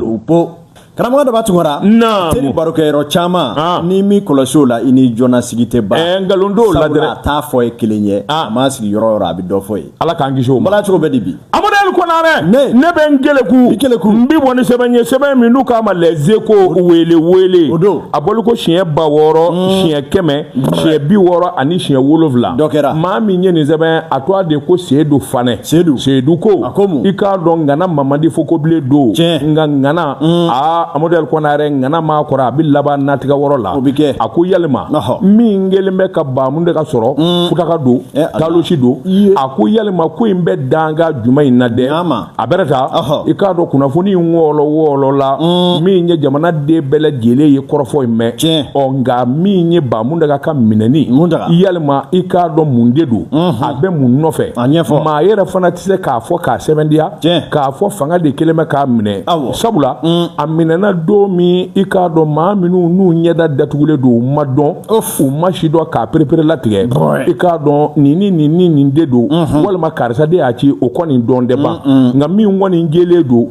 Upo karamɔgɔ dɔ b'a tunkara naam teri barokɛyɔrɔ caman ah. n ye min kɔlɔsi o la i ni jɔna sigi tɛ ban eh, nkalon t'o la dɛrɛ a t'a fɔ ye kelen ye ah. a ma sigi yɔrɔ o yɔrɔ a bɛ dɔ fɔ yen ala k'an kisi o ma bala cogo bɛ di bi amadu konare ne ne bɛ n keleku i keleku n bi bɔ ni sɛbɛn ye sɛbɛn min n'u k'a ma les échos wele wele o don a bɔli ko siɲɛ ba wɔɔrɔ hmm. siɲɛ kɛmɛ siɲɛ bi wɔɔrɔ ani siɲɛ wolonwula dɔ kɛra maa min ye nin sɛbɛn a tɔgɔ de ko seedu fanɛ seyidu seyidu ko a ko mun i k'a dɔn ŋana mamadi fokobilen don tiɲɛ nka ŋana mm. aa amadu ali kɔnare ŋana ma kɔrɔ a bi laban natigɛ wɔrɔ la o bi kɛ a ko yalima min kɛlen bɛ ka ba muntaga sɔrɔ mm. futaka don eh, talosi don a ko yalima ko in bɛ danga juma in na dɛ a bɛrɛ ta i k'a dɔn kunnafoni in wɔɔlɔ wɔɔlɔ la mm. min ye jamanaden bɛɛ lajɛlen ye kɔrɔfɔ in mɛn tiɲɛ ɔ nka min ye ba muntaga ka minɛni yalima i k'a dɔn mun de don mm-hmm. a bɛ mun nɔfɛ a ɲɛfɔ maa yɛrɛ fana tɛ se k'a fɔ k'a sɛmɛntiya k'a fɔ fanga de kɛlen bɛ k'a minɛ sabula mm. a minɛna don min i k'a dɔn maa minnu n'u ɲɛda datugulen don u ma dɔn u ma si dɔn k'a perepere latigɛ i k'a dɔn nin ni nin ni nin de don mm-hmm. walima karisa de y'a ci o kɔni dɔnnen tɛ ban nka min kɔni jɛlen don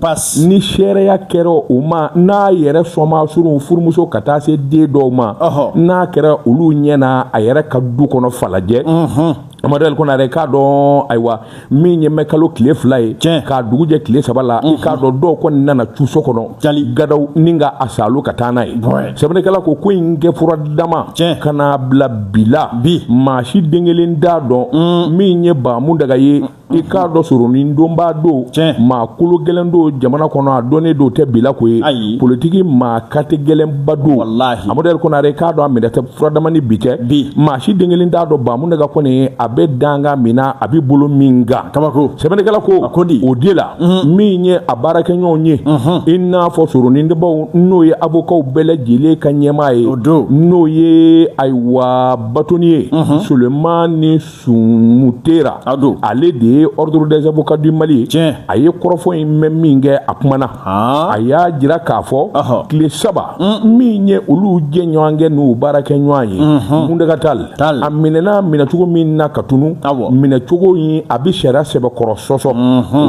ni seereya kɛra o ma n'a yɛrɛ somaa surunw furumuso ka taa se den dɔw ma n'a kɛra olu ɲɛ na a yɛrɛ ka du kɔnɔ falajɛ mm-hmm. Amadu ali konare k'a dɔn ayiwa min ye mɛ kalo tile fila ye tiɲɛ k'a dugu jɛ tile saba la i k'a dɔn dɔw kɔni nana cun so kɔnɔ ja gadaw ni ka a salo ka taa n'a ye sɛbɛnnikɛla ko ko in kɛ furadama tiɲɛ ka n'a bila bi la bi maa si den kelen t'a dɔn min ye ba muntaga ye i k'a dɔn soronnadonba don tiɲɛ maa kolo gɛlɛn don jamana kɔnɔ a dɔnnen don tɛ bilakoro ye ayi politiki maa katigɛlɛnba don amadu ali konare k'a dɔn a minɛ tɛ furadama ni bi tɛ bi maa si den kelen t'a dɔn ba muntaga kɔni ye a bɛ danga min na a bɛ bolo min kan kabako sɛbɛnnikɛla ko a ko di o de la mhm. min ye a baarakɛɲɔgɔnw ye mhm. i n'a fɔ soronnadonbaw n'o ye abokaw bɛɛ lajɛlen ka ɲɛmaa ye o don n'o ye ayiwa bâtonnier mhm. sulemani Sumuntera o don ale de ye ordre des avocats du Mali ye tiɲɛ a ye kɔrɔfɔ in mɛn min kɛ a kumana haan a y'a jira k'a fɔ ɔhɔ tile saba min ye olu jɛɲɔgɔnkɛ n'u baarakɛɲɔgɔn ye Muntaga Tall Tall a minɛna minɛcogo min na k'a tunun awɔ minɛcogo in a bɛ sariya sɛbɛkɔrɔ sɔsɔ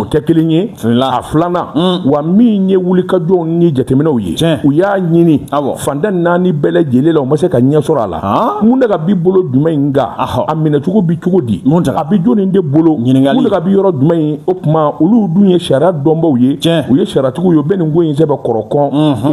o tɛ kelen ye a filanan wa min ye wulikajɔw ni jateminɛw ye tiɲɛ u y'a ɲini awɔ fan tan ni naani bɛɛ lajɛlen la u ma se ka ɲɛ sɔrɔ a la muntaga bi bolo jumɛn in kan a minɛcogo bi cogo di a bi jɔni de bolo ɲininkali muntaga bi yɔrɔ jumɛn in o tuma olu dun ye sariya dɔnbaw ye u ye sariyatigiw ye u bɛ nin ko in sɛbɛkɔrɔ kɔn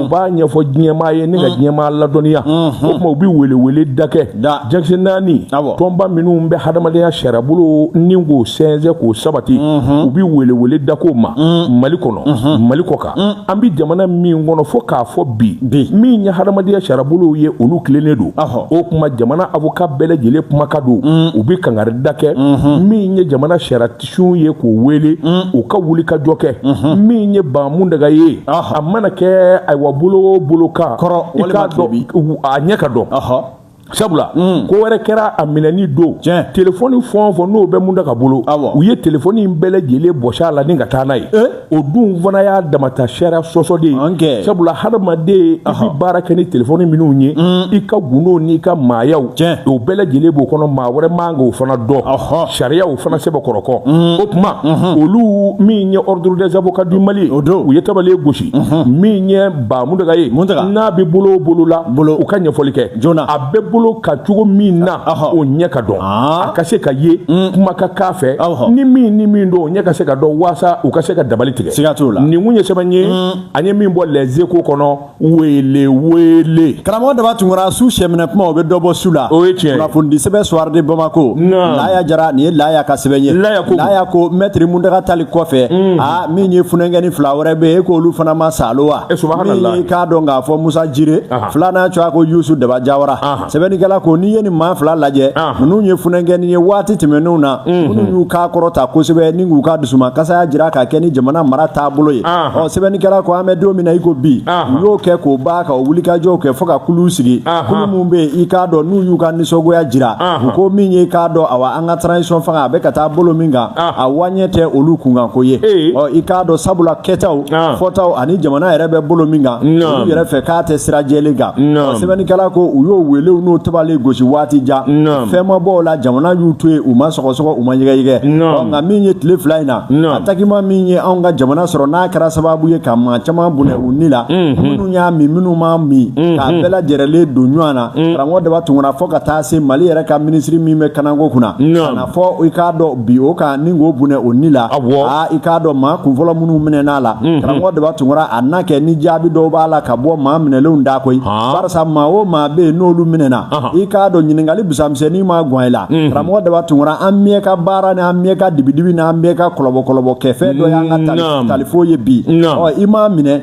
u b'a ɲɛfɔ diɲɛmaa ye ni ka diɲɛmaa ladɔnniya o tuma u bi welewele dakɛ jakisi naani tɔnba minnu bɛ hadamadenya sariyabolo ni k'o sɛnsɛn k'o sabati u bi welewele dakow ma mali kɔnɔ mali kɔkan an bɛ jamana min kɔnɔ fo k'a fɔ bi min ye hadamadenya sariyabolow ye olu tilennen don o tuma jamana avocat bɛɛ lajɛlen kumakan don u bɛ kangari da kɛ min ye jamana sariyatigiw ye k'o wele u ka wulikajɔ kɛ min ye ba muntaga ye a mana kɛ ayiwa bolo o bolo kan i k'a dɔn a ɲɛ ka dɔn sabula mm. ko wɛrɛ kɛra a minɛni don tiɲɛ telefɔni fɛn fɛn n'o bɛ muntaga bolo u ye telefɔni in bɛɛ lajɛlen bɔsi a la ni ka taa n'a ye eh? o dun fana y'a dama ta sariya sɔsɔ de ye sabula hadamaden i bɛ baara kɛ ni telefɔni minnu ye mm. i ka gundow n'i ka maayaw o bɛɛ lajɛlen b'o kɔnɔ maa wɛrɛ man k'o fana dɔn sariya y'o fana sɛbɛkɔrɔ kɔn mm. o tuma mm-hmm. olu min ye ordre des avocats du mali ye u ye tabale gosi min ye ba muntaga ye n'a bɛ bolo o bolo la u ka ɲɛfɔli kɛ joona a bɛ bolo kan cogo min na o ɲɛ ka dɔn a ka se ka ye mm. kuma ka k'a fɛ ni min ni min don o ɲɛ ka se ka dɔn waasa u ka se ka dabali tigɛ siga t'o la nin kun ye sɛbɛn ye mm. an ye min bɔ les échos kɔnɔ wele wele karamɔgɔ daba tunkara su sɛminɛ kuma o bɛ dɔ bɔ su la o ye tiɲɛ kunnafonidi sɛbɛn soir de bamako laya jara nin ye laya ka sɛbɛn ye laya ko mɛtiri muntaga tali kɔfɛ mm. min ye funankɛni fila wɛrɛ bɛ yen e k'olu fana ma salo wa eh, min ye i k'a dɔn k'a fɔ musa jire filanan tɔgɔ ye ko yusu daba jawara sɛbɛnnikɛla ko n'i ye nin maa fila lajɛ ninnu ye funankɛni ye waati tɛmɛnenw na mhm. minnu y'u kan kɔrɔta kosɛbɛ ni k'u ka dusuma kasaya jira k'a kɛ ni jamana mara taabolo ye ɔ sɛbɛnnikɛla ko an bɛ don min na i ko bi u y'o kɛ k'o ban ka o wulikajɔw kɛ fo ka kuluw sigi kulu minnu bɛ yen i k'a dɔn n'u y'u ka nisɔngoya jira u ko min ye i k'a dɔn awa an ka transition fanga a bɛ ka taa bolo min kan a waɲɛ tɛ olu kunkanko ye ɔ i k'a dɔn sabula kɛtaw fɔtaw ani jamana yɛrɛ bɛ bolo min kan olu yɛrɛ fɛ k'a tɛ sira jɛlen kan sɛbɛnnikɛla ko u y'o welew n'o tabale gosi waati jan fɛn ma bɔ o la jamana y'u to yen u ma sɔgɔsɔgɔ u ma yɛgɛyɛgɛ nka min ye tile fila in na attaquement min ye anw ka jamana sɔrɔ n'a kɛra sababu ye ka maa caman bɔnɛ u ni la y'a mɛn minnu m'a mɛn mhm. k'a bɛɛ lajɛrɛlen don ɲɔgɔn na mhm. karamɔgɔ daba tunkara fo ka taa se mali yɛrɛ ka minisiri min bɛ kanako kunna ka na fɔ i k'a dɔn bin o kan ni k'o bɔnɛ o ni la aa i k'a dɔn maa kunfɔlɔ minnu minɛn'a la mhm. karamɔgɔ daba tunkara a na kɛ ni jaabi dɔw b'a la ka bɔ maa minɛlenw da koyi barisa maa o maa bɛ yen n'olu minɛna i k'a dɔn ɲininkali busamisɛnnin maa gwan i la karamɔgɔ daba tunkara an bɛɛ ka baara ni an bɛɛ ka dibidibi ni an bɛɛ ka kɔlɔbɔ kɔlɔbɔ kɛfɛn dɔ y'an ka talifo ye bi i maa minɛ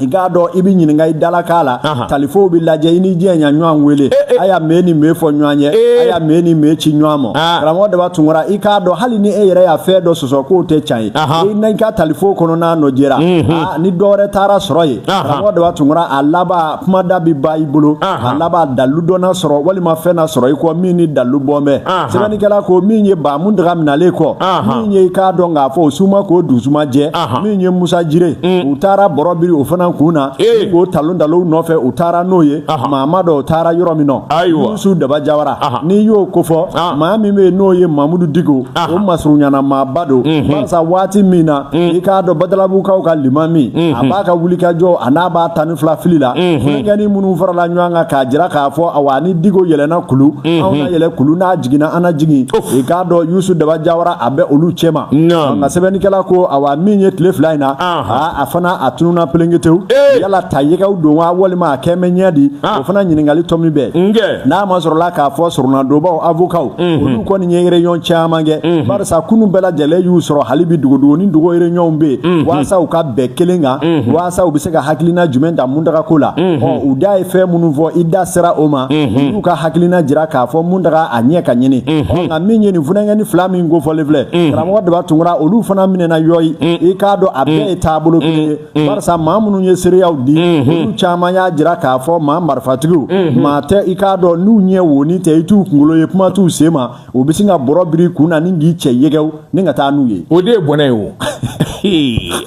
i k'a dɔn i bɛ ɲininka i dalakan la talifow bɛ lajɛ i ni jɛn ya ɲɔgɔn wele eh, eh. a ya mɛn ni mɛn fɔ ɲɔgɔn ye eh. a ya mɛn ni mɛn ci ɲɔgɔn ma ah. karamɔgɔ daba tunkara i k'a dɔn hali ni e yɛrɛ y'a fɛn dɔ sɔsɔ k'o tɛ can ye i na i ka talifo kɔnɔ n'a nɔ jɛra mhm. ah, ni dɔ wɛrɛ taara sɔrɔ yen karamɔgɔ daba tunkara a laban kumada bɛ ban i bolo a laban dalu dɔ na sɔrɔ walima fɛn na sɔrɔ i kɔ min ni dalu bɔn bɛ sɛbɛnnikɛla ko min ye ba muntaga minɛlen kɔ min ye i k'a dɔn k'a fɔ o suma k'o dusuma jɛ min ye musa jire mm. u taara bɔrɔ biri o fana kun na k'o talontalon nɔfɛ u taara n'o ye maa m'a dɔn u taara yɔrɔ min na yusu daba jawara n'i y'o kofɔ ah. maa min bɛ yen n'o ye mamudu diko o masurunyana maaba don mm-hmm. barisa waati min na mm. i k'a dɔn badalabukaw ka limami mm-hmm. a b'a ka wulikajɔ a n'a b'a tan fila fili la funankɛni minnu farala ɲɔgɔn kan k'a jira k'a fɔ awa ni diko yɛlɛna kulu anw na yɛlɛ kulu n'a jiginna an na jigin i k'a dɔn yusu daba jawara a bɛ olu cɛma nka sɛbɛnnikɛla ko awa min ye tile fila in na a fana a tununa pelenketew yala ta yɛgɛw don wa walima a kɛmɛ ɲɛ di o fana ɲininkali tɔ min bɛ yen n'a masɔrɔla k'a fɔ soronadonbaw avokaw Mm-hmm. olu kɔni ye réunion caman kɛ mm-hmm. barisa kunu bɛɛ lajɛlen y'u sɔrɔ hali bi dogodogo ni dogo réunion bɛ yen mm-hmm. waasa u ka bɛn kelen kan waasa u bɛ se ka hakilina jumɛn ta muntaga ko la ɔ u da ye fɛn minnu fɔ i da sera o ma u ka hakilina jira k'a fɔ muntaga a ɲɛ ka ɲini ɔ nka min ye nin funankɛni fila min kofɔlen filɛ karamɔgɔ daba tunkara olu fana minɛna yɔyi i k'a dɔn a bɛɛ ye taabolo kelen ye Mm. barisa maa minnu ye seereyaw di mm-hmm. olu caman y'a jira k'a fɔ maa marifatigiw mm-hmm. maa tɛ i k'a dɔn n'u ɲɛ woni tɛ i t'u kunkolo ye kuma t'u sen ma u bɛ sin ka bɔrɔ biri kun na ni k'i cɛ yɛgɛw ni ka taa n'u ye o de ye bɔnɛ ye o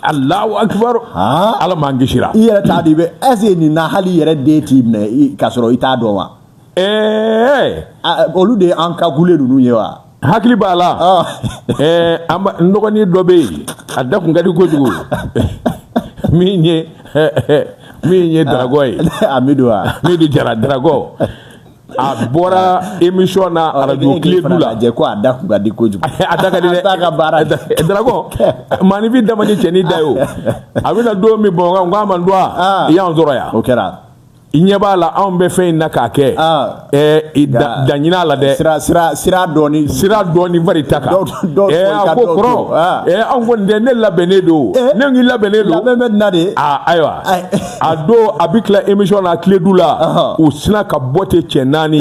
alahu akibar ala m'an kisira i yɛrɛ t'a di bɛ est-ce nin na hali i yɛrɛ den t'i minɛ k'a sɔrɔ i t'a dɔn wa ɛɛ olu de ye encagoulé ninnu ye wa hakili b'a la n dɔgɔnin dɔ bɛ yen a da kun ka di kojugu min ye min ye dragon ye amidu amidu jara dragon a bɔra émission na radio kledu la jɛ ko a da kun ka di kojugu a da ka di dɛ a ka baara dragon maanifin damani cɛ ni da ye o a bɛna don min bamakɔ n k'a ma n dɔn a i y'an sɔrɔ yan o kɛra i ɲɛ b'a la anw bɛ fɛn in na k'a kɛ ah. dan ɲini a la dɛ siran dɔɔni siran dɔɔni bari ta kan a ko kɔrɔ ah. anw kɔni tɛ ne labɛnnen don eh. ne k'i labɛnnen don labɛn bɛ nin na de ah, ayiwa a don a bɛ tila émission na kledu la u sinna ka bɔ ten cɛ naani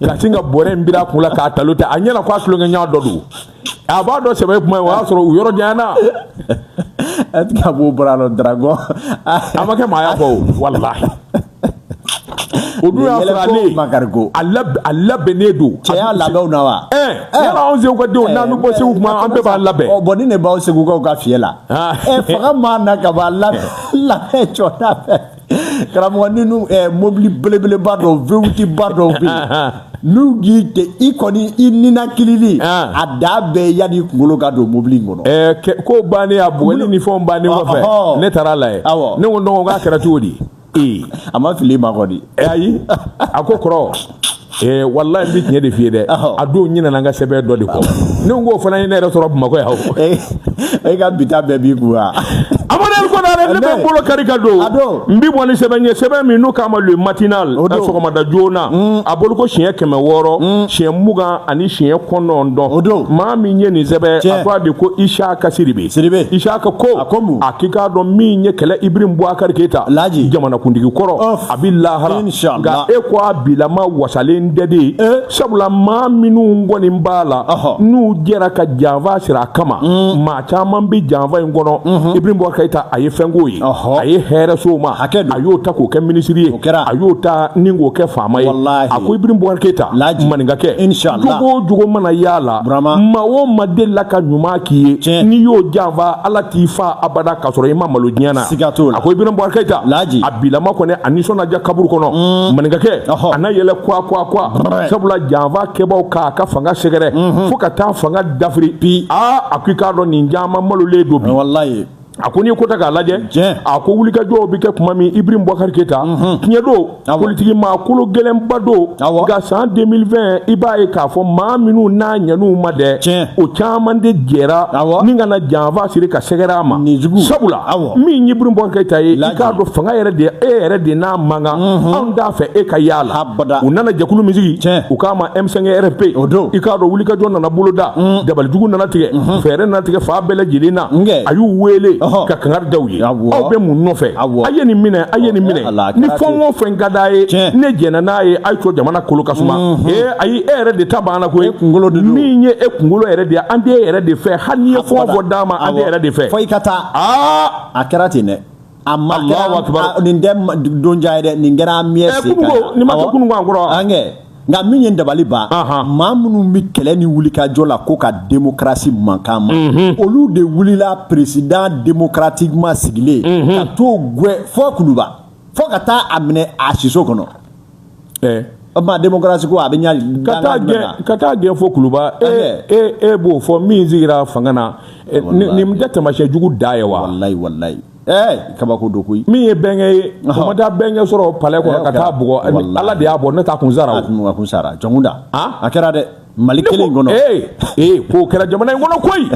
ka sin ka bɔrɛ in biri a kun la k'a talon ta a ɲɛna ko a tulonkɛɲɔgɔn dɔ don a b'a dɔn sɛbɛ kuma o y'a sɔrɔ u yɔrɔ janyana a ti ka b'o bɔra la dragon a ma kɛ maaya kɔ o walahi o dun y'a sɔrɔ ale makarigo a labɛnnen don cɛya labɛnw na wa ɛɛ yala anw segu ka denw n'an bɛ bɔ segu kuma an bɛɛ b'a labɛn ɔ bon ni ne b'aw segukaw ka fiyɛ la ɛ fanga mana ka bɔ a labɛn labɛn jɔ da fɛ karamɔgɔ ni nu ɛɛ mobili belebeleba dɔ V8 ba dɔw bɛ yen n'u y'i cɛ i kɔni i ninakili a da bɛɛ yanni kunkolo ka don mobili in kɔnɔ. ɛɛ ko bannen a bugɔli ni fɛnw bannen kɔfɛ ne taara a lajɛ ne ko dɔgɔ k'a kɛra cogo di. ee a ma fili ma kɔni. ayi a ko kɔrɔ. ee walayi n bɛ tiɲɛ de f'i ye dɛ a don n ɲinɛna n ka sɛbɛn dɔ de kɔ ne ko k'o fana ye ne yɛrɛ sɔrɔ bamakɔ yan o eh, e ka bi ta bɛɛ b'i kun wa amadou konare ne bɛ n bolo kari ka don n bɛ bɔ ni sɛbɛn ye sɛbɛn min n'u k'a ma le matinal ko sɔgɔmada joona mm. a bolo ko siɲɛ kɛmɛ wɔɔrɔ mm. siɲɛ mugan ani siɲɛ kɔnɔntɔn maa min ye nin sɛbɛn a tɔgɔ de ko isaka sidibe isaka ko a k'i k'a dɔn min ye kɛlɛ ibrahim bubakari keyita jamanakuntigi kɔrɔ a bɛ lahara nka e ko a bilama wasalen don dɛ eh? sabula maa minnu kɔni b'a la n'u jɛra ka janfa siri a kama mm. maa caman bɛ janfa in kɔnɔ mm-hmm. ibrahim bubakari keyita a ye fɛnko ye a ye hɛrɛ so ma a y'o ta k'o kɛ minisiri ye a y'o ta ni k'o kɛ faama ye a ko ibrahim bubakari keyita maninka kɛ jogo o jogo mana y'a la maa o maa delila ka ɲuman k'i ye n'i y'o janfa ala t'i fa abada k'a sɔrɔ i ma malo diɲɛ na siga t'o la a ko ibrahim bubakari keyita laji a bilama kɔni a nisɔn na diya kaburu kɔnɔ mm. maninkakɛ a na yɛlɛ kwa kwa kwa sabula janfa kɛbaaw k'a ka fanga sɛgɛrɛ mm-hmm. fo ka taa fanga dafiri bi aa a ko i k'a dɔn nin caman malolen don bi walayi a ko n'i ko ta k'a lajɛ a ko wulikajɔw bɛ kɛ tuma min ibrahim bubakari keyita tiɲɛ mm-hmm. don politiki maa kologɛlɛnba don nka san 2020 i b'a ye k'a fɔ maa minnu n'a ɲɛn'u ma dɛ o caman de jɛra ni ka na janfa siri ka sɛgɛrɛ a ma sabula min ye Ibrahim Bubakari Keyita ye i k'a dɔn fanga yɛrɛ de e yɛrɛ de n'a man kan mhm. anw t'a fɛ e ka y'a la u nana jɛkulu min sigi u k'a ma M5 RFP i k'a dɔn wulikajɔ nana boloda mhm. dabalijugu nana tigɛ mhm. fɛɛrɛ nana tigɛ fan bɛɛ lajɛlen na a y'u wele ka kangari da u ye aw bɛ mun nɔfɛ a ye nin minɛ a ye nin minɛ Ala ni fɛn o fɛn ka d'a ye ne jɛnna n'a ye a y'a to jamana kolo ka suma mhm. ee ayi e yɛrɛ de ta banna koyi e kunkolo de min ye e kunkolo yɛrɛ de ye an tɛ e yɛrɛ de fɛ hali n'i ye fɛn o fɛn d'an ma an tɛ e yɛrɛ de fɛ fo i ka taa aa a kɛra ten dɛ a ma kɛra nin tɛ don jan ye dɛ nin kɛra an miɲɛ se kan nin ma kɛ kunun kɔrɔ an kɛ nka min ye dabaliban maa minnu bɛ kɛlɛ ni wulikajɔ la ko ka demokarasi mankan ma mhm. olu de wulila peresidan demokaratikiman sigilen mhm. ka t'o gwɛn fo kuluba fo ka taa a minɛ a siso kɔnɔ eh. o tuma demokarasi ko a bɛ ɲa ka taa gɛn ka taa gɛn fo kuluba e eh. e e b'o fɔ min sigira fanga na eh, nin tɛ taamasiyɛn jugu dan ye wa walayi walayi ɛɛ kabako don koyi min ye bɛnkɛ ye u ma taa bɛnkɛ sɔrɔ palɛ kɔnɔ ka t'a bugɔ ala de y'a bɔ n'o t'a kun sara o a kun sara jɔnkunda a kɛra dɛ mali kelen in kɔnɔ ee ee k'o kɛra jamana in kɔnɔ koyi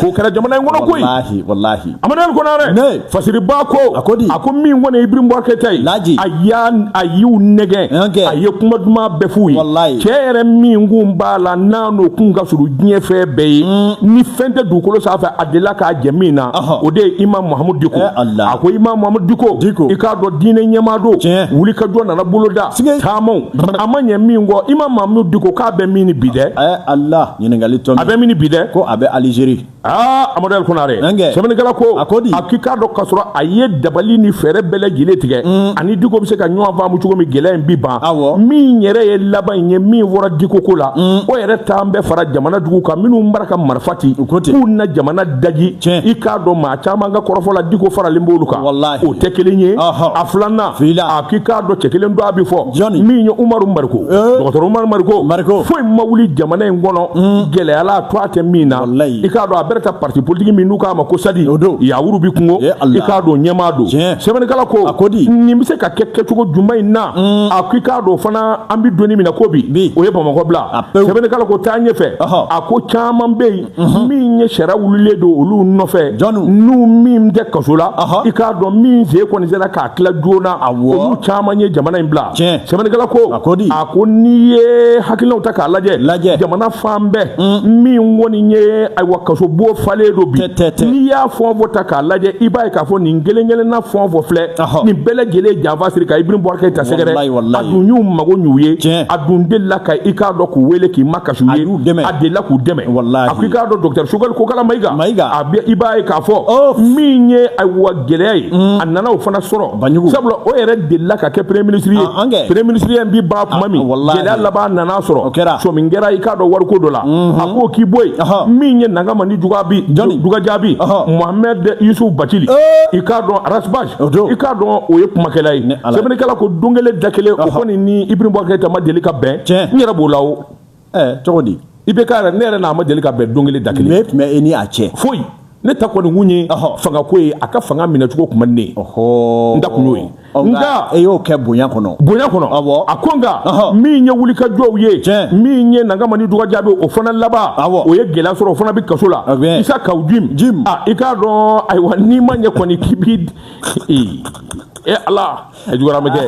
k'o kɛra jamana in kɔnɔ koyi walahi walahi amadou konare fasiriba ko a ko di a ko min kɔni ye ibrahim bubakari keyita ye laji a y'a a y'u nɛgɛn a ye kuma duman bɛɛ f'u ye walahi cɛ yɛrɛ min kun b'a la n'a n'o kun ka surun diɲɛ fɛn bɛɛ ye ni fɛn tɛ dugukolo sanfɛ a delila k'a jɛ min na o de ye imam mahamudu diko a ko imam mahamudu diko i k'a dɔn diinɛ ɲɛmaadon wulikajɔ nana boloda taamaw a ma ɲɛ min kɔ imam mahamudu diko k'a bɛ min bi dɛ a bɛ min bi dɛ ko a bɛ alizeri aa amadu konare sɛbɛnnikɛla ko a ko di a k'i k'a dɔn ka sɔrɔ a ye dabali ni fɛɛrɛ bɛɛ lajɛlen tigɛ mm. ani diko bɛ se ka ɲɔgɔn faamu cogo min gɛlɛya in bi ban min yɛrɛ ye laban in ye min fɔra diko ko la mm. o yɛrɛ t'an bɛɛ fara jamana jugu kan minnu bara ka marifa ci k'u na jamana daji tiɲɛ i k'a dɔn maa caman ka kɔrɔfɔ la diko faralen b'olu kan walahi o tɛ kelen ye a filanan a k'i k'a dɔn cɛ kelen don a bi fɔ jɔni min ye umaru mariko eh. dɔgɔtɔrɔ umaru mariko mariko foyi ma wuli jamana in kɔnɔ hmm. gɛlɛya la a tɔɔ tɛ min na i k'a dɔn a yɛrɛ ta parti politique min n'u k'a ma ko sadi o don yawuru bi kungo eh, i k'a dɔn ɲɛmaa don sɛbɛnnikɛla ko a ko di nin bɛ se ka kɛ kɛcogo juma in na hmm. a k'i k'a dɔn fana an bi don min na ko bi o ye bamakɔ bila sɛbɛnnikɛla ko taa ɲɛfɛ a ko caman bɛ yen Mhm. min ye sariya wulilen don olu nɔfɛ n'u min tɛ kaso la i k'a dɔn min sen kɔni sera k'a tila joona olu caman ye jamana in bila sɛbɛnnikɛla ko a ko n'i ye hakilinaw ta k'a lajɛ jamana fan bɛɛ mm. min kɔni ye ayiwa kasobon falen don bi n'i y'a fɔn fɔ ta k'a lajɛ i b'a ye k'a fɔ nin kelen kelenna fɔn fɔ filɛ nin bɛɛ lajɛlen janfa siri ka Ibrahim Boubacar Keita sɛgɛrɛ a dun y'u mago ɲ'u ye a dun delila ka i k'a dɔn k'u wele k'i kasi a y'u dɛmɛ a delila k'u dɛmɛ walahi a ko i k'a dɔn docteur Sogɛli Kokala Mayiga Mayiga a bɛ i b'a ye k'a fɔ oh. min ye ayiwa gɛlɛya ye mm. a nana o fana sɔrɔ Banjugu sabula o yɛrɛ delila ka kɛ premier ministre ye ah, premier ministre ye bi ban tuma ah, min gɛlɛya laban nana sɔrɔ o kɛra sɔmi kɛra i k'a dɔn wariko dɔ la mm-hmm. a ko k'i bɔ yen min ye Nangama ni Dugabi Dugajabi Mohamed Yusuf Batili eh. i k'a dɔn Ras Bath i k'a dɔn o ye kumakɛla ye sɛbɛnnikɛla ko don kelen da kelen o kɔni ni Ibrahim Boubacar Keita ma deli ka bɛn n yɛrɛ b'o la o cogo di IBK yɛrɛ ne yɛrɛ n'a ma deli ka bɛn don kelen da kelen mun tun bɛ e ni a cɛ foyi ne ta kɔni kun ye fangako ye a ka fanga minɛcogo tun man di ne ye n da kun y'o ye nka e y'o kɛ bonya kɔnɔ bonya kɔnɔ awɔ a ko nka min ye wulikajɔw ye min ye nangama ni dugajaabi o fana laban awɔ o ye gɛlɛya sɔrɔ o fana bɛ kaso la Isa Kawu Jim Jim i ka dɔn ayiwa n'i ma ɲɛ kɔni k'i bi ee e ala a juguyara ma kɛ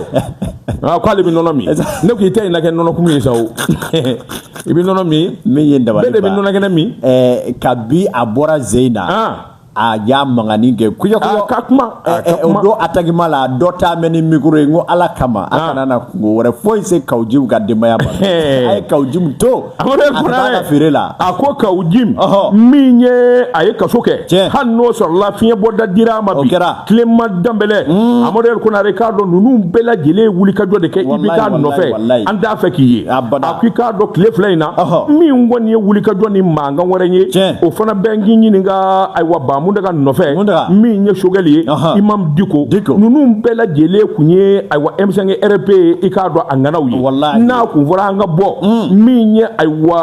aa k'ale bɛ nɔnɔ min ne ko i tɛ yen na kɛ nɔnɔkumu ye sa o i bɛ nɔnɔ min min ye dabali bɛɛ de bɛ nɔnɔ kɛnɛ min ɛɛ kabi a bɔra jeu in na a y'a mankanni kɛ kuyɛ kuyɛ ka kuma o don atakima la dɔ ta mɛ ni mikoro ye n ko ala kama a kana na kunko wɛrɛ foyi se Kawu Jim ka denbaya ma a ye Kawu Jim to a fana feere la a ko kawu jim min ye a ye kaso kɛ hali n'o sɔrɔla fiɲɛ bɔda dira a ma bi clément danbɛlɛ hmm. amadu yɛrɛ konare i k'a dɔn ninnu bɛɛ lajɛlen ye wuli ka jɔ de kɛ IBK nɔfɛ an t'a fɛ k'i ye a ko i k'a dɔn tile fila in na min kɔni ye wuli ka jɔ ni mankan wɛrɛ ye o fana bɛ n k'i ɲininka ayiwa ba muntaga nɔfɛ min ye sogɛli ye imam diko ninnu bɛɛ lajɛlen kun ye ayiwa M5 RFP i k'a dɔn a ŋanaw ye n'a kun fɔra an ka bɔ min ye ayiwa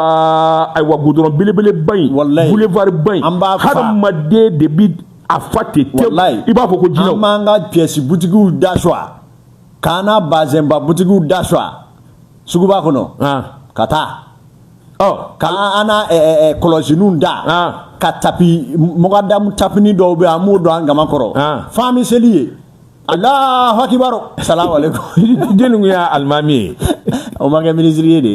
ayiwa gudɔrɔn belebeleba in boulevard ba in hadamaden de bi a fa ten tewu i b'a fɔ ko jinɛw an b'an ka pièce butigiw da sɔgɔ k'an na bazɛnba butigiw da sɔgɔ suguba kɔnɔ ka taa ɔ k'an na kɔlɔsiniw ta ka tapi mɔgɔdamu tapini dɔw bɛ an b'o don an kaman kɔrɔ f'an bɛ seli yen Alahu akibar asalamu alaikum jeli y'a alimami ye o ma kɛ minisiri ye dɛ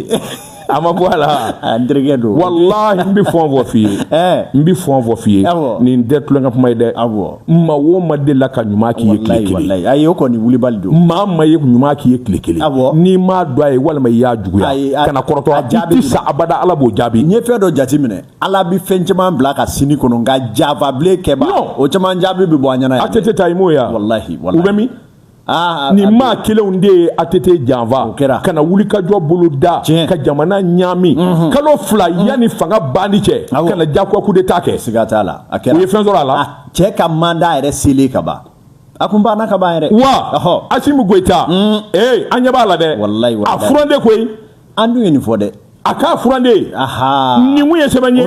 a ma bɔ a la a n terikɛ don walahi n bɛ fɛn dɔ f'i ye n bɛ fɛn dɔ f'i ye nin tɛ tulonkɛ kuma ye dɛ maa o maa delila ka ɲuman k'i ye tile kelen ayi o kɔni wulibali don maa ma ye ɲuman k'i ye tile kelen n'i m'a dɔn a ye walima i y'a juguya kana kɔrɔtɔ a jaabi sa abada ala b'o jaabi n ye fɛn dɔ jateminɛ ala bi fɛn caman bila ka sini kɔnɔ nka janfa bilen kɛbaaw caman jaabi bɛ bɔ an ɲɛna yan. atete ta i m'o ye wa. walahi walahi u bɛ min. Ah, ah, nin ah, maa kelenw de ye atete janfa ka na wulikajɔ bolo da ka jamana ɲaami mhm. kalo fila mhm. yanni fanga banni cɛ ka na jagoya coup d'état kɛ siga t'a la a kɛra u ye fɛn sɔrɔ a la cɛ ka mandat yɛrɛ selen ka ban a tun banna ka ban yɛrɛ wa Asimu Goyita ee mm. eh, an ɲɛ b'a la dɛ a furan de koyi an dun ye nin fɔ dɛ a ka furande nin kun ye sɛbɛn ye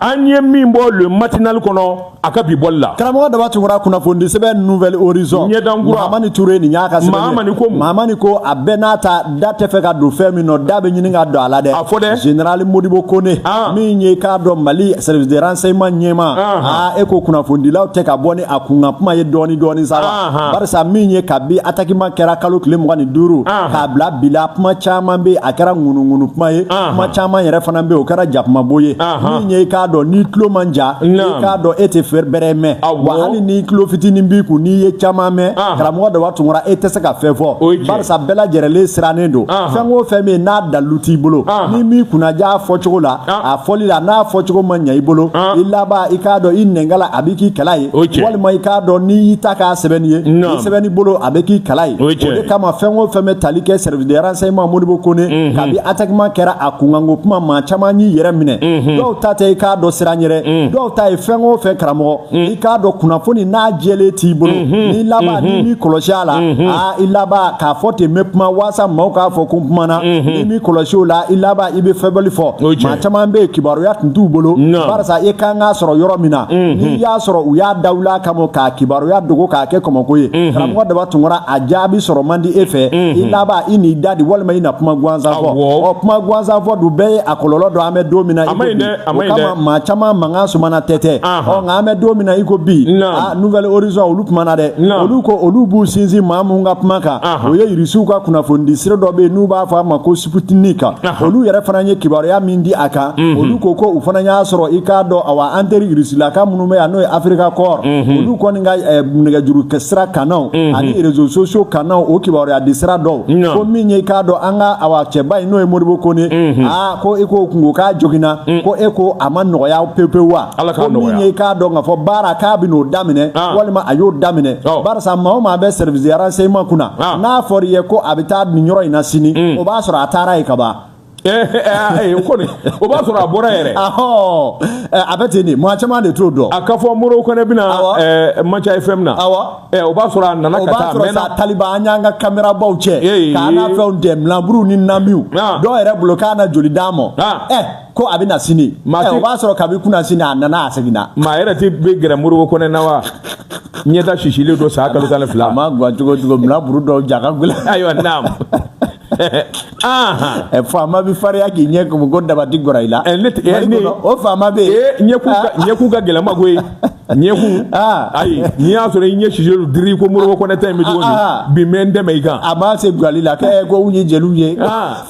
an ye min bɔ le matinali kɔnɔ a ka bi bɔli la karamɔgɔ daba tunkara kunnafonidi sɛbɛn nouvel horizon ɲɛdankura mamani ture nin y'a ka sɛbɛn mamani ko mamani ko a bɛɛ n'a ta da tɛ fɛ ka don fɛn min nɔ da bɛ ɲini ka don a la dɛ a fɔ dɛ general modibo kone min ye k'a dɔn mali service de renseignement ɲɛmaa e ko kunnafonidilaw tɛ ka bɔ ni a kunkan kuma ye dɔɔni dɔɔni sa barisa min ye kabi atakima kɛra kalo tile mugan ni duuru k'a bila bi la kuma caman bɛ yen a kɛra ŋunuŋunu kuma ye kuma caman yɛrɛ fana bɛ o kɛra jakumabo ye min ye i k'a dɔn n'i tulo man jan i k'a dɔn e tɛ fɛn bɛrɛ mɛn wa hali ni tulo fitinin b'i kun n'i ye caman mɛn karamɔgɔ daba tunkara e tɛ se ka fɛn fɔ barisa bɛɛ lajɛrɛlen sirannen don fɛn o fɛn bɛ yen n'a dalu t'i bolo n'i m'i kunnaja a fɔcogo la a fɔli la n'a fɔcogo ma ɲɛ i bolo i laban i k'a dɔn i nɛnkala a bi k'i kala ye walima i k'a dɔn n'i ta kɛra sɛbɛnni ye i sɛbɛnni bolo a bɛ k'i kala ye o de kama fɛn o fɛn bɛ tali kɛ service de renseignement modibo kone kabi atakima kɛra a kunkanko kuma maa caman y'i yɛrɛ minɛ dɔw ta tɛ i k'a dɔn siran yɛrɛ dɔw ta ye fɛn o fɛn karamɔgɔ i k'a dɔn kunnafoni n'a jɛlen t'i bolo n'i laban n'i m'i kɔlɔsi a la i laban k'a fɔ ten n bɛ kuma walasa maaw k'a fɔ ko n kumana n'i m'i kɔlɔsi o la i laban i bɛ fɛbali fɔ maa caman bɛ yen kibaruya tun t'u bolo barisa i kan k'a sɔrɔ yɔrɔ min na mhm. n'i y'a sɔrɔ u y'a dawuli a kama ka kibaruya dogo k'a kɛ kɔmɔko ye mhm. karamɔgɔ daba tunkara a jaabi sɔrɔ man di e fɛ mhm. i laban i n'i dade walima i na kuma gansan fɔ ɔ kuma gansan fɔ dun bɛɛ ye a kɔlɔlɔ dɔn an bɛ don min na a man ɲi dɛ. O kama maa caman mankan sumana tɛ tɛ. Ɔ nka an bɛ don min na i ko bi. Naam. A Nouvel Horizon olu kumana dɛ. Naam. Olu ko olu b'u sinsin maa min ka kuma kan. O ye Irisiw ka kunnafonidi sira dɔ bɛ yen n'u b'a fɔ a ma ko Sputnik. Olu yɛrɛ fana ye kibaruya min di a kan. Olu ko ko u fana y'a sɔrɔ i k'a dɔn awa an teri Irisilaka minnu bɛ yan n'o ye Africa Corps. Olu kɔni ka eh, nɛgɛjuru sira kannaw. Ani réseaux sociaux kannaw o kibaruyadi sira dɔw. Naam. Ko min ye i k'a dɔn an ka awa cɛba in n'o ye Modibo Kone. Aa ko i ko k'u tun ko k'a joginna mm. ko i ko a ma nɔgɔya pewu pewu wa Ala k'a nɔgɔya ko min ye i k'a dɔn k'a fɔ baara k'a bɛn'o daminɛ ah. walima a y'o daminɛ oh. barisa maa o maa bɛ service de renseignement kunna ah. n'a fɔra i ye ko a bɛ taa nin yɔrɔ in na sini mm. o b'a sɔrɔ a taara yen ka ban o kɔni o b'a sɔrɔ a bɔra yɛrɛ a bɛ ten de maa caman de t'o dɔn a k'a fɔ Modibo Kone bɛna Manca FM na. ɛ o b'a sɔrɔ a nana ka taa a mɛnna o b'a sɔrɔ sa taliba an y'an ka kamerabaw cɛ ka na fɛnw dɛmɛ milanburuw ni namiw dɔw yɛrɛ bolo k'a na joli d'a ma ɛ ko a bɛ na sini ɛ o b'a sɔrɔ kabi kunasini a nana a seginna maa yɛrɛ tɛ bɛ gɛrɛ Modibo Kone na wa ɲɛda sisilen don san kalo tan ni fila a ma gan cogo cogo milanburu dɔw ja ka gɛlɛn ayiwa naam faama bɛ farinya k'i ɲɛ kumu ko dabati gora i la ne o faama bɛ yen ɲɛkun ka gɛlɛnma koyi ɲɛkun ayi n'i y'a sɔrɔ i ɲɛ sisulu diri ko Modibo Kone ta in bɛ cogo min bi mɛ n dɛmɛ i kan a b'a se bilali la kɛ ko u ye jeliw ye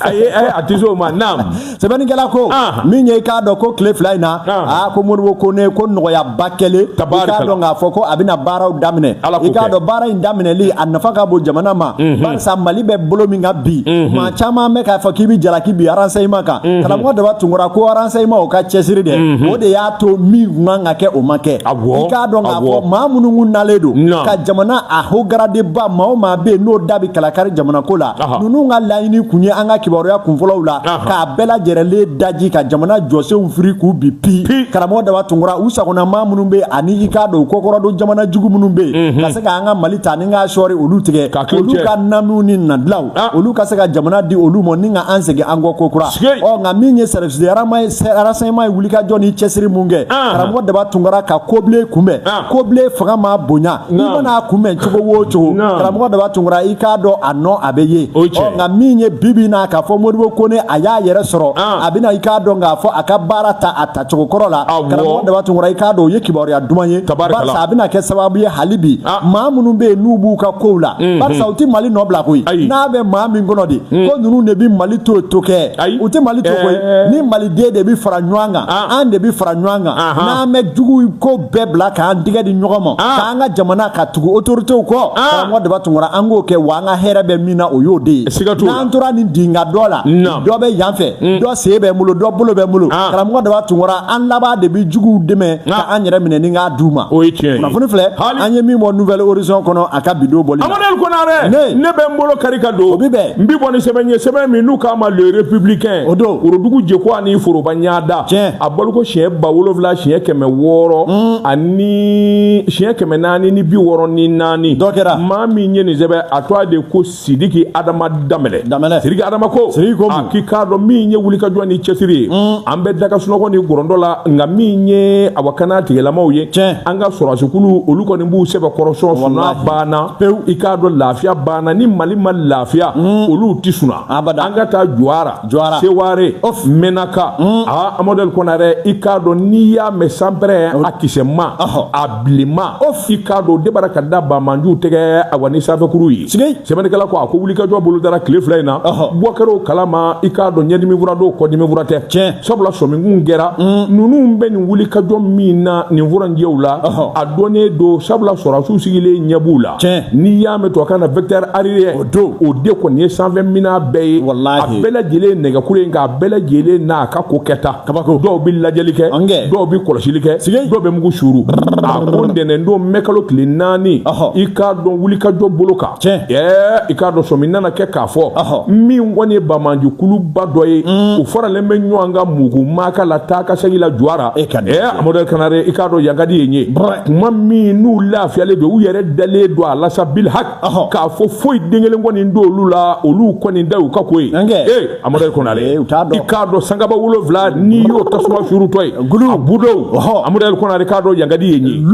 ayi a tɛ se o ma naam sɛbɛnnikɛla ko min ye i k'a dɔn ko tile fila in na aa ko Modibo Kone ko nɔgɔyaba kɛlen i k'a dɔn k'a fɔ ko a bɛna baaraw daminɛ i k'a dɔn baara in daminɛli a nafa ka bon jamana ma mhm. barisa mali bɛ bolo min kan bi mhm. maa caman bɛ k'a fɔ k'i bɛ jalaki bin renseignement kan mhm. karamɔgɔ daba tunkara ko renseignement o ka cɛsiri dɛ o de y'a to min kun kan ka kɛ o ma kɛ i k'a dɔn k'a fɔ maa minnu kun nalen don ka jamana a haut gradéba maa o maa bɛ yen n'o da bɛ kalakari jamana ko la ninnu ka laɲini tun ye an ka kibaruya kunfɔlɔw la k'a bɛɛ lajɛrɛlen daji ka jamana jɔsenw firi k'u bin pi karamɔgɔ daba tunkura u sagona maa minnu bɛ ani i k'a dɔn kɔkɔrɔdon jamana jugu minnu bɛ yen ka se k'an ka mali ta ni k'a sɔri olu tigɛ ka olu ka namiw ni nadilaw ah. olu ka se ka jamana di olu ma ni ka an segin an kɔ kokura ɔ nka min ye service de renseignement ye wulikajɔ ni cɛsiri min kɛ ah. karamɔgɔ daba tunkara ka kobilen kunbɛn ah. kobilen fanga ma bonya i mana kunbɛn cogo o cogo karamɔgɔ daba tunkara i k'a dɔn a nɔ a bɛ ye nka min ye bibi na k'a fɔ modibo kone a y'a yɛrɛ sɔrɔ a bɛna i k'a dɔn k'a fɔ a ka baara ta a ta cogo kɔrɔ la karamɔgɔ daba tunkara i k'a dɔn o ye kibaruya duman ye barisa a bɛna kɛ sababu ye hali bi maa minnu bɛ yen n'u b'u ka kow la barisa u tɛ mali nɔ bila koyi n'a bɛ maa min kɔnɔ de ko ninnu de bɛ mali to to kɛ u tɛ mali to koyi ni maliden de bɛ fara ɲɔgɔn kan an de bɛ fara ɲɔgɔn kan n'an bɛ jugu ko bɛɛ bila k'an tigɛ di ɲɔgɔn ma ah. k'an ka jamana ka tugu otoritew kɔ ah. karamɔgɔ daba tunkara an k'o kɛ wa an ka hɛrɛ bɛ min na o y'o de ye n'an tora nin dinga dɔ la dɔ bɛ yan fɛ mm. dɔ sen bɛ n bolo dɔ bolo bɛ n bolo ah. karamɔgɔ daba tunkara an laban de bɛ juguw dɛmɛ ka an yɛrɛ minɛ ni k'a d'u ma kunnafoni filɛ an ye min bɔ nouvelle horizon kɔnɔ a ka bidon bɔli la amadel konare ne ne bɛ n bolo kari ka don o bi bɛn n bi bɔ ni sɛbɛn ye sɛbɛn min n'u k'a ma le républicain o don worodugu jeko ani foroba ɲada tiɲɛ a bɔliko siɲɛ ba wolonwula siɲɛ kɛmɛ wɔɔrɔ mm. ani siɲɛ kɛmɛ naani ni bi wɔɔrɔ ni naani dɔ kɛra maa min ye nin sɛbɛn a tɔgɔ de ko sidiki adama danbɛlɛ danbɛlɛ sidiki adama ko sidiki ko a k'i k'a dɔn min ye wulikajɔ ni cɛsiri ye mm. an bɛ daga sunɔgɔ ni gɔrɔndɔ la nka min ye awa kana tigilamaw ye tiɲɛ an ka sɔrɔdasikulu olu kɔni b'u sɛbɛkɔrɔ sɔn suna banna pewu i k'a dɔn lafiya banna ni mali ma lafiya mm. olu tɛ suna an ka taa jura jura seware of menaka mm. a amadel konare i k'a dɔn n'i y'a mɛn sanpɛrɛ a kisɛma a bilenma of i k'a dɔn debara ka da bamanjuw tɛgɛ awa ni sanfɛkuru ye sigi sɛbɛnnikɛla ko a ko wulikajɔ bolodara tile fila in na bɔ kɛra o kalama i k'a dɔn ɲɛdimi fura don kɔdimi fura tɛ tiɲɛ sabula sɔmi kun kɛra mm. ninnu bɛ nin wulikajɔ min na nin furanjɛw la a dɔnnen don sabula sɔrɔdasiw sigilen ɲɛ b'u la tiɲɛ n'i y'a mɛn tubabukan na vecteur aérien don o de kɔni ye sanfɛ minan bɛɛ ye a bɛɛ lajɛlen nɛgɛkuru in k'a bɛɛ lajɛlen n'a ka ko kɛta kabako dɔw bɛ lajɛli kɛ dɔw bɛ kɔlɔsili kɛ sigi dɔw bɛ mugu suuru a ko ntɛnɛn don mɛkalo tile naani i k'a dɔn wulikajɔ bolo kan ɛɛ i k'a dɔn sɔmi nana kɛ k'a fɔ min kɔni ye bamanju kuluba dɔ ye mm. u faralen bɛ ɲɔgɔn kan mugu maaka la taa ka segin la jura e ka ɛɛ amadel konare i k'a dɔn yankadi ye nin ye kuma min n'u lafiyalen don u yɛrɛ dalen don a la sa bil haki k'a fɔ foyi den kelen kɔni t'olu la olu kɔni da u ka ko ye ee amadel konare i k'a dɔn sankaba wolonwula n'i y'o tasuma suurutɔ ye a budow amadel konare k'a dɔn yankadi ye nin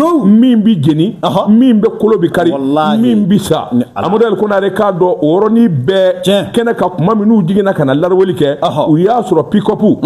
min bɛ jeni min bɛ kolo bɛ kari min bɛ sa amadel konare k'a dɔn o yɔrɔnin bɛɛ kɛnɛ ka kuma minnu jiginna ka na lawuli kɛ u y'a sɔrɔ pikɔpu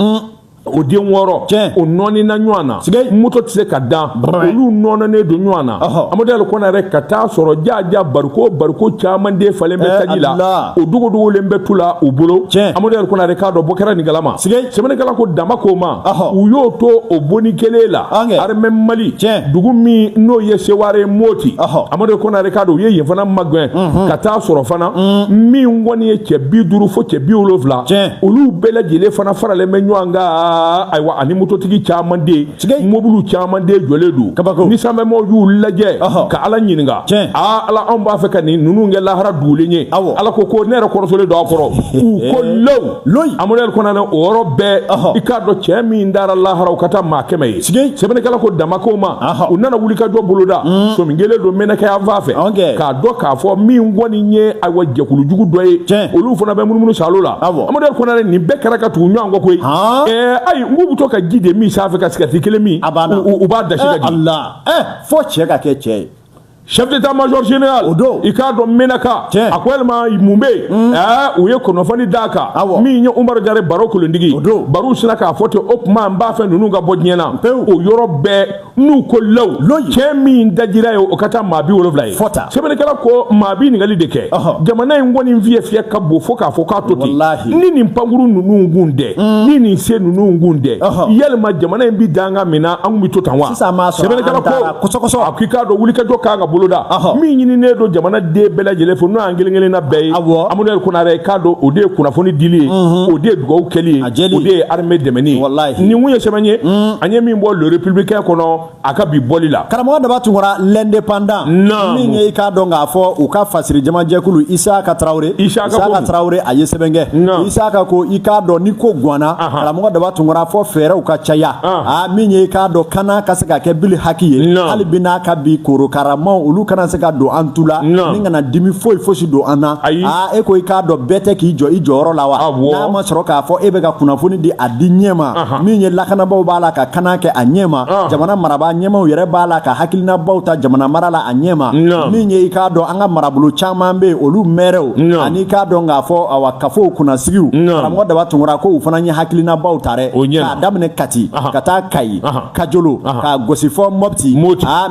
o den wɔɔrɔ tiɲɛ o nɔɔnina ɲɔgɔn na sɛgɛ moto tɛ se ka dan olu nɔɔninen don ɲɔgɔn na amadu konare ka taa sɔrɔ jaaja bariko bariko caman de falen bɛ taji la o dogodogolen bɛ tu la u bolo tiɲɛ amadu konare k'a dɔn bɔ kɛra nin galama sɛgɛ sɛbɛnnikɛla ko dan ma k'o ma u y'o to o boni kelen la arimɛ mali tiɲɛ dugu min n'o ye seware ye moti amadu konare k'a dɔn u ye yen fana magɛn ka taa sɔrɔ fana min kɔni ye cɛ bi duuru fo cɛ bi wolonwula tiɲɛ olu bɛɛ lajɛlen fana faralen bɛ ɲɔgɔn kan ayiwa ani mototigi caman de mobiliw caman de jɔlen don kabako ni sanfɛmɔw y'u lajɛ ka ala ɲininka aa ala anw b'a fɛ ka nin ninnu kɛ lahara dugulen ye ala ko ko ne yɛrɛ kɔrɔsolen don a kɔrɔ u ko low loyi amadu konare o yɔrɔ bɛɛ i k'a dɔn cɛ min dara lahara o ka taa maa kɛmɛ ye sɛbɛnnikɛla ko dan ma k'o ma u nana wulikajɔ boloda mm. so min kelen don menaka yan fan fɛ dɔn k'a fɔ min kɔni ye ayiwa jɛkulu jugu dɔ ye tiɲɛ olu fana bɛ munumunu salo la awɔ amadu konare nin bɛɛ kɛra ka tugu ɲɔgɔn kɔ koyi ɛɛ ayi n k'u bɛ to ka ji de min sanfɛ ka sigati kelen min a banna u b'a dasi ka di ala ɛ fo cɛ ka kɛ cɛ ye chef d'état major général o don i k'a dɔn menaka tiɲɛ a ko yalima mun bɛ yen ɛɛ u ye kunnafoni d'a kan awɔ min ye umaru jara baru kuntigi o don baru sinna k'a fɔ ten o tuma n b'a fɛ ninnu ka bɔ diɲɛ na pewu o yɔrɔ bɛɛ n'u ko law cɛ min dajira ye o ka taa maa bi wolonwula ye sɛbɛnnikɛla ko maa bi ɲininkali de kɛ jamana in kɔni fiyɛ fiyɛ ka bon fo k'a fɔ k'a to ten ni nin pankurun ninnu kun tɛ mm. ni nin se ninnu kun tɛ yalima jamana in bi danga min na an kun bi to tan wa sɛbɛnnikɛla ko a k'i k'a dɔn wulikajɔ kan ka boloda min ɲininen don jamana den bɛɛ lajɛlen fɛ an kelen kelen na bɛɛ ye amadu konare k'a dɔn o de ye kunnafoni dili ye o de ye dugawu kɛli ye o de ye armée dɛmɛni ye nin kun ye sɛbɛn ye an ye min bɔ le républicain kɔnɔ a ka bi bɔli la karamɔgɔ daba tunkara l'indépendant min ye i k'a dɔn k'a fɔ u ka fasiri jamajɛkulu isaka tarawele isaka tarawele a ye sɛbɛn kɛ isaka ko i k'a dɔn ni ko gwanna karamɔgɔ daba tunkara fo fɛɛrɛw ka caya a min ye i k'a dɔn kana ka se ka kɛ bili haki ye hali bi n'a ka bi korokaramaw olu kana se ka don an tu la n kana dimi foyi fosi don an na ayi aa e ko i k'a dɔn bɛɛ tɛ k'i jɔ i jɔyɔrɔ la wa awɔ n'a ma sɔrɔ k'a fɔ e bɛ ka kunnafoni di a di ɲɛ ma Ahan. min ye lakanabaaw b'a la ka kana kɛ a ɲɛ ma Ah. jamana marabaa ɲɛmaw yɛrɛ b'a la ka hakilinabaw ta jamana mara la a ɲɛ ma Naam. min ye i k'a dɔn an ka marabolo caman bɛ yen olu mɛrɛw Naam. ani i k'a dɔn k'a fɔ awa kafow kunnasigiw Naam. karamɔgɔ daba tunkara ko u fana ye hakilinabaw ta dɛ O ɲɛna. k'a daminɛ kati Ahan. ka taa kayi kajolo ka gosi fɔ mɔti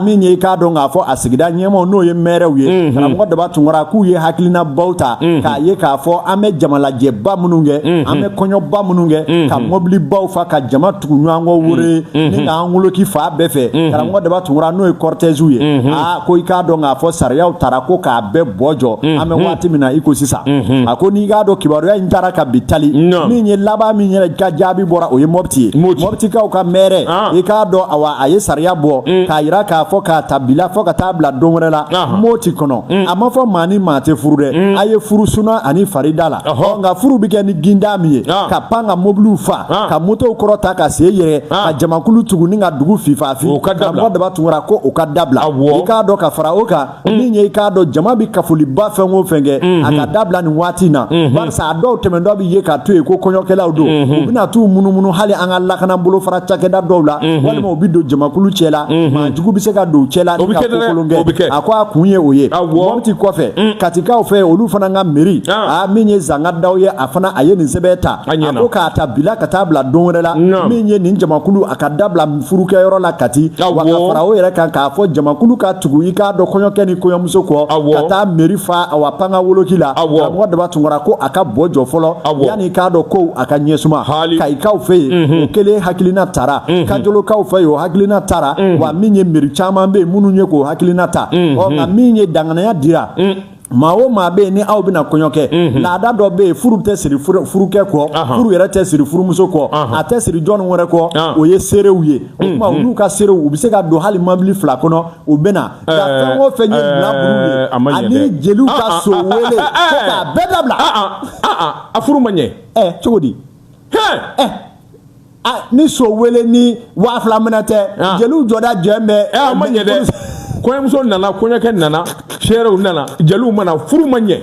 min ye i k'a dɔn k'a fɔ a sigida ɲɛmaw n'o ye mɛrɛw ye karamɔgɔ daba tunkara k'u ye hakilinabaw ta k'a ye k'a fɔ an bɛ jamalajɛba minnu kɛ an bɛ kɔɲɔba minnu kɛ ka mɔbilibaw fa ka jama tugu ɲɔgɔn kɔ woro ni k'an woloki fan bɛɛ fɛ karamɔgɔ daba tunkara n'o ye kɔrɔtɛziw ye aa ko i k'a dɔn k'a fɔ sariyaw tara ko k'a bɛɛ bɔ jɔ an bɛ waati min na i ko sisan a ko n'i k'a dɔn kibaruya in taara ka bi tali min ye laban min yɛrɛ ka jaabi bɔra o ye mɔti ye mɔtikaw ka mɛrɛ ah. i k'a dɔn awa a ye sariya bɔ mm. k'a yira k'a fɔ k'a ta bi la fɔ ka taa bila don wɛrɛ la ah. mɔti kɔnɔ mm. a ma fɔ maa ni maa tɛ furu dɛ mm. a ye furu suna ani farida la nka furu bɛ kɛ ni ginda min ye ah. ka pan ka mobiliw fa ka motow kɔrɔta ka se yɛrɛ ka jamakulu tugu ni ka dugu fifafi karamɔgɔ daba tunkara ko o ka dabila i k'a dɔn ka fara o kan min ye i k'a dɔn jama bɛ kafoliba fɛn o fɛn kɛ a ka dabila nin waati in na barisa a dɔw tɛmɛntɔ bɛ ye k'a to yen ko kɔɲɔkɛlaw don u bɛna t'u munumunu hali an ka lakana bolofara cakɛda dɔw la walima u bɛ don jamakulu cɛ la maa jugu bɛ se ka don u cɛ la ni ka kokolon kɛ a ko a kun ye o ye mɔti kɔfɛ katikaw fɛ olu fana ka meri a min ye zanga daw ye a fana a ye nin sɛbɛn ta a ko k'a ta bi la ka taa bila don wɛrɛ la min ye nin jamakulu a ka dabila furukɛyɔrɔ la kati wa ka fara o yɛrɛ kan k'a fɔ jamakulu ka tugu i k'a dɔn kɔɲɔkɛ ni kɔɲɔmuso kɔ ka taa meri fa awa pan ka woloki la karamɔgɔ daba tunkara ko a ka bɔ jɔ fɔlɔ yanni i k'a dɔn kow a ka ɲɛsuma kayikaw fɛ yen mhm. o kelen hakilina tara mhm. kajolokaw fɛ yen o hakilina tara mhm. wa min ye meri caman bɛ yen minnu ye k'o hakilina ta ɔ nka min ye danganaya dira maa o maa bɛ yen ni aw bɛna kɔɲɔ kɛ mhm. laada dɔ bɛ yen furu tɛ siri furukɛ kɔ furu yɛrɛ tɛ siri furumuso kɔ a tɛ siri jɔn wɛrɛ kɔ ah. o ye seerew ye o tuma mhm. olu ka seerew u bɛ se ka don hali mɔbili fila kɔnɔ u bɛ na eh, nka fɛn o fɛn ye eh, bilaburu ye ani jeliw ka ah, ah, so wele ko k'a bɛɛ dabila a furu ma ɲɛ eh, cogo di a ni so wele ni waa fila minɛ tɛ ah. jeliw jɔda jɛn bɛ ɛ eh, a ma ɲɛ dɛ kɔɲɔmuso nana kɔɲɔkɛ nana seerew nana jeliw ma na furu ma ɲɛ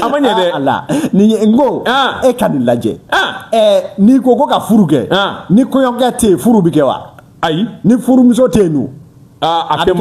a ma ɲɛ dɛ ah, ala nin ye n ko ah. e ka nin lajɛ ɛ eh, n'i ko ko ka furu kɛ ni kɔɲɔkɛ tɛ yen furu bɛ kɛ wa ayi ni furumuso tɛ yen dun a tɛ